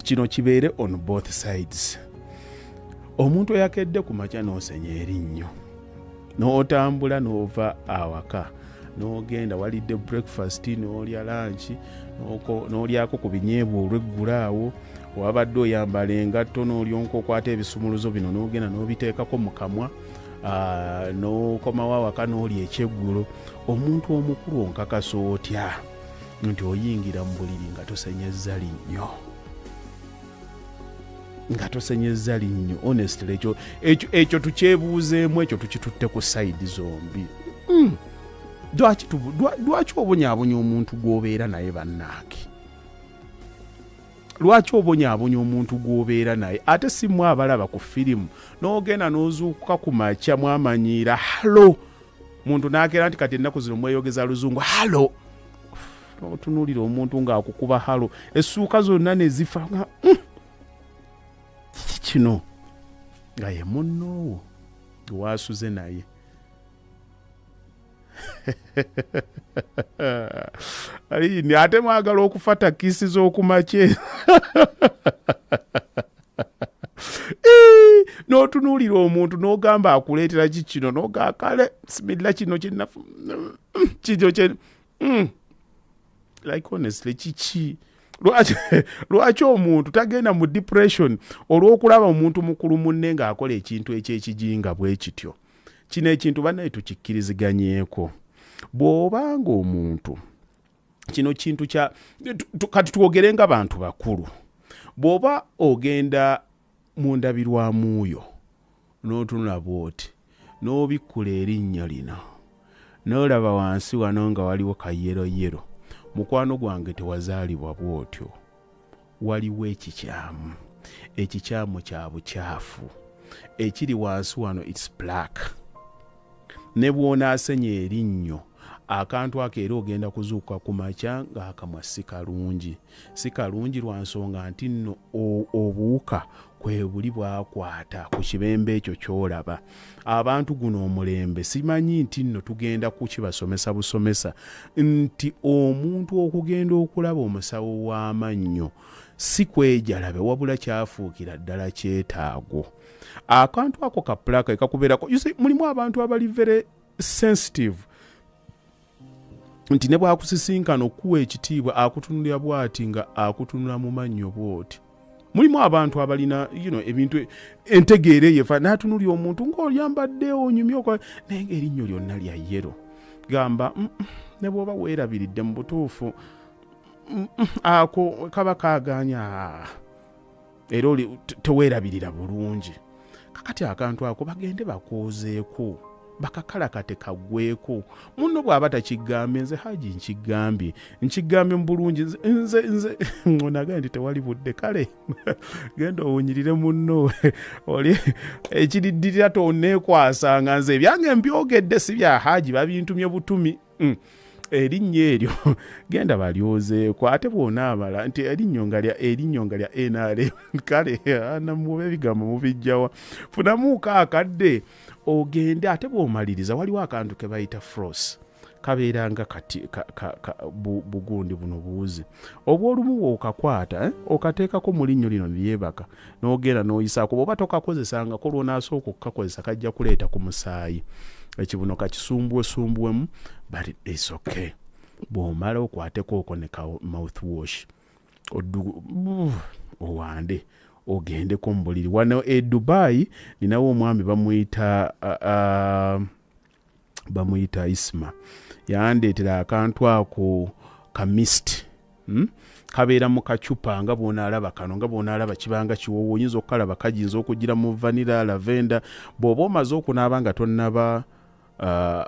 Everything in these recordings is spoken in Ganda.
kino kibeere on both sides omuntu eyakedde ku makya n'osenya erinnyo n'otambula n'ova awaka n'ogenda walidde breakfast n'olya lanki n'olyako ku binyeebwa olweggula awo wabadde oyambala engatto n'olyonka okwata ebisumuluzo bino n'ogenda n'obiteekako mu kamwa n'okomawo awaka n'olya ekyeggulo omuntu omukulu onkakasa otya nti oyingira mu buliri nga tosenyezza linnyo nga tosenyezza linnyo honestly ekyo ekyo tukyebuuzeemu ekyo tukitutte ku sayidi zombi hmm. lwaki obonyabonya omuntu gw'obeera naye bannaake lwaki obonyabonya omuntu gw'obeera naye ate si mwe abalaba ku firimu n'ogenda n'ozuukuka ku makya mwamanyiira halo muntu nakeera nti kati ennaku zino mweyogeza luzungu halo otunuulira omuntu ng'akukuba halo essuuka zonna ne zifa nga mm, kiki kino nga ye munnoowo gwewaasuze naye ayini ate mwagala okufa takisi z'okumakye n'otunuulira omuntu n'ogamba akuleetera ki kino nogaa kale similla kino kyenafu kikyo kye mm. like honestly kiki lwaki omuntu tagenda mu depression olw'okulaba omuntu mukulu munne ng'akola ekintu ekyekijinga bwe kityo kino ekintu banaye tukikkiriziganyeko bw'oba ng'omuntu kino kintu kya kati twogere nga bantu bakulu bw'oba ogenda mu ndabirwamu yo n'otunula bw'oti n'obikkula erinnya lino n'olaba wansi wano nga waliwo kayeroyero mukwano gwange tewazaalibwa bw'otyo waliwo ekikyamu ekikyamu kya bukyafu ekiri wansi wano its black ne bw'onaasenya erinnyo akantu ako era ogenda kuzuukuka ku makya ng'akamwa si kalungi si kalungi lwa nsonga nti nno obuwuka kwebuli bwakwata ku kibembe ekyo kyolaba abantu guno omulembe simanyi nti nno tugenda kukibasomesa busomesa nti omuntu okugenda okulaba omusawo w'amannyo si kwejalabe wabula kyafuukira ddala kyetaago akantu ako ka pulaka ekakubeerako mulimu abantu abali very sensitive nti ne bwakusisinkana okukuwa ekitiibwa akutunulira bwati nga akutunula mu mannyo bwoti mulimu abantu abalina you know, ebintu entegeera eyefa natunuli omuntu ngaolyambadde onyumye okola naye nga erinnyo lyonna lya yero gamba mm, mm, ne bwoba weerabiridde mu butuufu mm, ako kaba kaganya era oli teweerabirira bulungi kakati akantu ako bagende bakoozeeko bakakalakate kagweko muno bw'aba takigambye nze haji nkigambye nkigambye mu bulungi nze nze onaga nti tewali budde kale genda owunyirire munno oli ekiriddirira toneekwasanga nze ebyange mbyogedde si bya haji babintumye butumi mm. erinnya eryo genda balyozeeko ate bwonaamala nti erinnyo nga lya erinnyo nga lya nrm kale namuba ebigambo mubijjawa funamuuko akadde ogende ate bwomaliriza waliwo akantu ke bayita frost kabeera nga kati ka, ka, ka, bu, bugundi buno buwuzi obwolumu wookakwata eh? okateekako mu linnyo lino lyebaka n'ogenda n'oyisaako bw'oba tokakozesangako lw'onaasooka okukakozesa kajja kuleeta ku musaayi ekibuno kakisumbuwesumbuwemu but its okay bw'omala okwatekooko ne ka mouth wash owande ogendeko mu buliri wano e dubai ninawo omwami bamuyita uh, uh, bamuyita isma yandeetera akantu ako kamist hmm? kabeera mu kacupa nga bwonaalaba kano nga bwonaalaba kibanga kiwoowo oyinza okukalaba kajinza okugira mu vanira lavenda bw'oba omaze okunaaba nga tonnaba uh,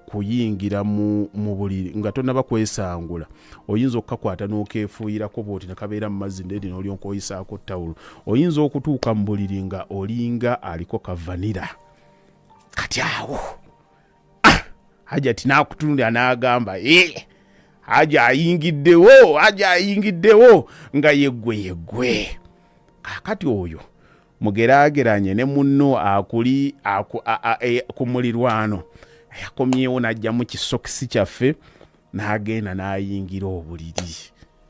kuyingira mu buliri nga tonaba kwesangula oyinza okukakwata n'okeefuuyirako bwoti ne kabeera mu mazzi ndedi n'olyoka oyisaako tawulo oyinza okutuuka mu buliri nga olinga aliko kavanira kati awo ah, hajati nakutunulira nagamba eh, haja ayingiddewo haja ayingiddewo nga yeggwe yeggwe kakati oyo mugerageranye ne munno akuli e, ku mulirwano yakomyewo najjamu kisokisi kyaffe nagenda nayingira obuliri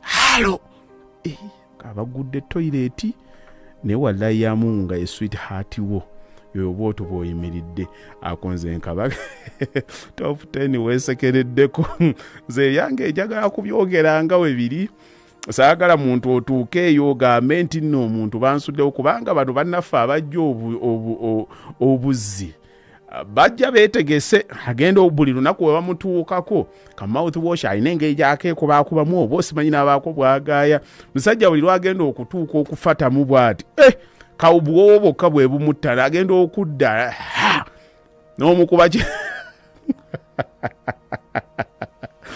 halo eh, abagudde toyireeti naye wallayi yamungu nga ye swit heart wo yoyo bwoto bwoyimiridde akonze nkaba top 10 wesekereddeko nze yange ejagala kubyogera nga webiri saagala muntu otuuke eyo ogambe nti nno omuntu bansuddewo kubanga bano bannaffe abajja obuzzi obu, obu, obu, bajja betegese agenda buli lunaku we bamutuukako ka mouth wash alina engeri gyakeekubaakubamu oba osimanyi n'abaako bwagaaya musajja buli lwagenda okutuuka okufatamu bwati eh, kawubwowo bwokka bwe bumuttana agenda okudda n'omukuba